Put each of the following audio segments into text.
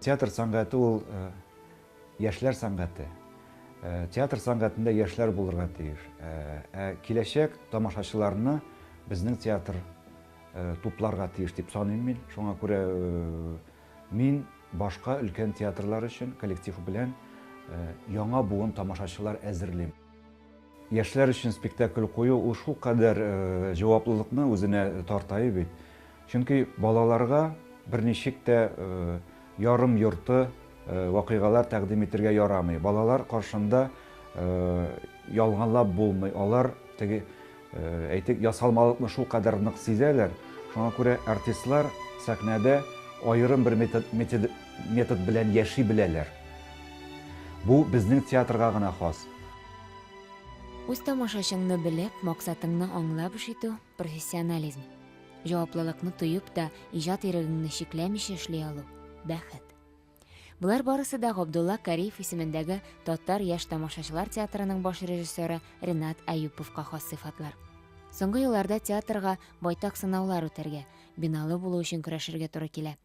Театр сәнгате ул э, яшьләр сәнгате. Э, театр сәнгатендә яшьләр булырга тиеш. Э, ә киләчәк тамашачыларны безнең театр тупларга тиеш дип саныйм мин. Шуңа күрә мин башка өлкән театрлар өчен коллектив белән яңа буын тамашачылар әзерлим. Яшьләр өчен спектакль кую ул шулкадәр җаваплылыкны үзенә тартаи бит. Чөнки балаларга берничек тә ярым-йорты вакыйгалар тәкъдим итергә ярамый. Балалар каршында ялганлап булмый. Алар теге, әйтик, ясалмалыкны шулкадәр нык сизәләр. Шуңа күрә артистлар сәхнәдә аерым бер метод белән яши беләләр. Бу безнең театрга гына хас. Үз тамашачыңны белеп, максатыңны аңлап эш итү, профессионализм. Җаваплылыкны тоеп та, иҗат ирегеңне чикләмичә эшли алу, бәхет. Болар барысы да Габдулла Кариев исемендәге Татар яшь тамашачылар театрының баш режиссеры Ренат Аюповка хас сыйфатлар. Соңгы елларда театрга байтак сынаулар үтәргә, биналы булу өчен көрәшергә туры килә.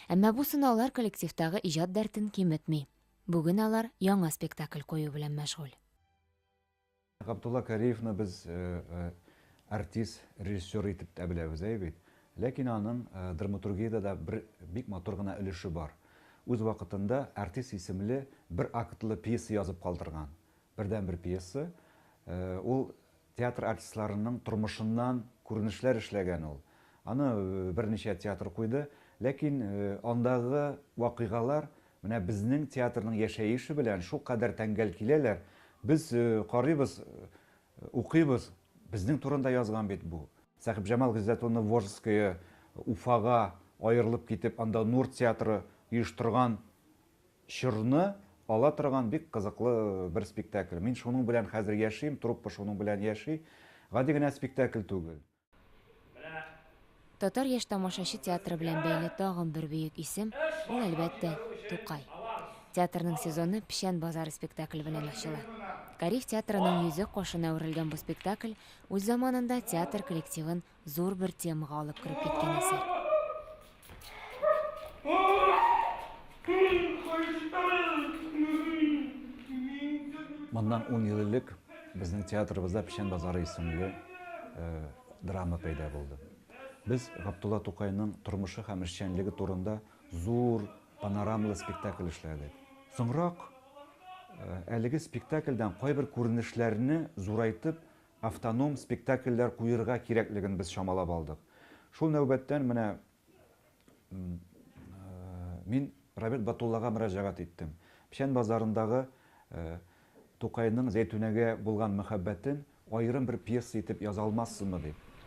Әмма бу сынаулар коллективтагы иҗат дәртен киметми. Бүген алар яңа спектакль кую белән мәшгуль. Габдулла Кариевны без артист, режиссер итеп тә беләбез, әй бит. Ләкин аның драматургиядә дә бер бик матур гына өлеше бар. Үз вакытында Артист исемле бер актлы пьеса язып калдырган. Бердәнбер пьеса. Ул Театр артистларының тормышыннан күренешләр эшләгән ул. Аны берничә театр куйды. Ләкин андагы вакыйгалар менә безнең театрның яшәеше белән шулкадәр тәңгәл киләләр, без карыйбыз, укыйбыз, безнең турында язган бит бу. Сәхибҗамал Гыйззәт улны Вожское, Уфага аерылып китеп, анда Нур театры оештырган чорны ала торган бик кызыклы бер спектакль. Мин шуның белән хәзер яшим, труппа шуның белән яши. Гади генә спектакль түгел. Татар яшь тамашачы театры белән бәйле тагын бер бөек исем, ул, әлбәттә, Тукай. Театрның сезоны Печән базары спектакле белән ачыла. Кариев театрының йөзе кашына үрелгән бу спектакль үз заманында театр коллективын зур бер темага алып кереп киткән әсәр. Моннан ун ел элек безнең театрыбызда Печән базары исемле э, драма пәйда булды. Без Габдулла Тукайның тормышы һәм эшчәнлеге турында зур панорамалы спектакль эшләдек. Соңрак э, әлеге спектакльдән кайбер күренешләрне зурайтып автоном спектакльләр куерга кирәклеген без чамалап алдык. Шул нәүбәттән менә мин Равил Батуллага мөрәҗәгать иттем. Печән базарындагы Тукайның Зәйтүнәгә булган мәхәббәтен аерым бер пьеса итеп яза алмассызмы дип.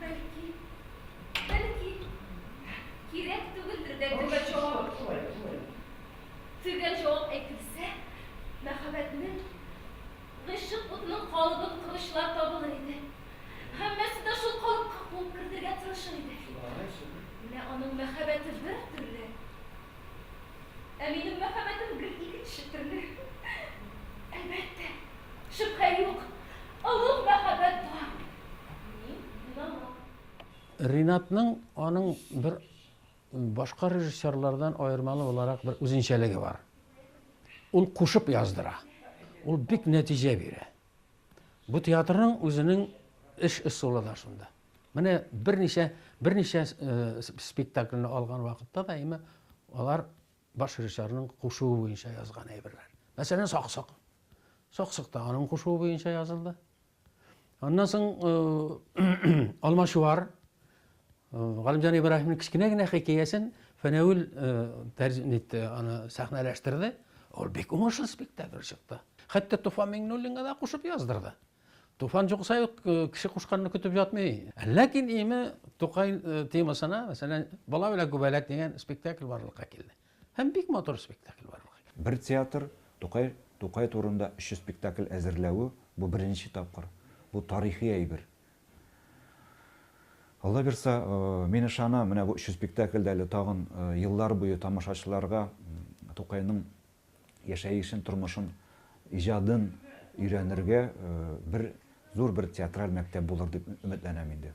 Бәлки, бәлки, кирәк түгелдер дә төгәл җавап. Төгәл җавап әйтелсә, мәхәббәтнең, гыйшык утының калыбын коручылар табылыр иде. Һәммәсе дә шул калыпка куып кертергә тырышыр иде. Менә аның мәхәббәте бер төрле, ә минем мәхәббәтем гел икенче төрле. Әлбәттә. Шөбһә юк, олуг мәхәббәт бар. Мин уйламам. Ринатның аның бер башка режиссерлардан аермалы буларак бер үзенчәлеге бар. Ул кушып яздыра. Ул бик нәтиҗә бирә. Бу театрның үзенең эш ысулы да шунда. Менә берничә берничә э, спектакльне алган вакытта да имә алар Баш режиссерның кушуы буенча язган әйберләр. Мәсәлән, Саксык. Саксык та аның кушуы буенча язылды. Аннан соң Алмачуар Галимҗан Ибраһимның кечкенә генә хикәясен Фәнәвил тәрҗемә итте, аны сәхнәләштерде. Ул бик уңышлы спектакль чыкты. Хәтта Туфан Миңнуллинга да кушып яздырды. Туфан җукса юк, кеше кушканны көтеп ятмый. Ләкин име Тукай темасына, мәсәлән, Бала белән күбәләк дигән спектакль барлыкка килде. Һәм бик матур спектакль барлыкка килде. Бер театр Тукай Тукай турында өч спектакль әзерләве, бу беренче тапкыр. Бу тарихи әйбер. Алла бирса, мин ышанам, менә бу өч спектакль дә әле тагын еллар буе тамашачыларга Тукайның яшәешен, тормышын, иҗадын өйрәнергә бер зур бер театраль мәктәп булыр дип өметләнәм инде.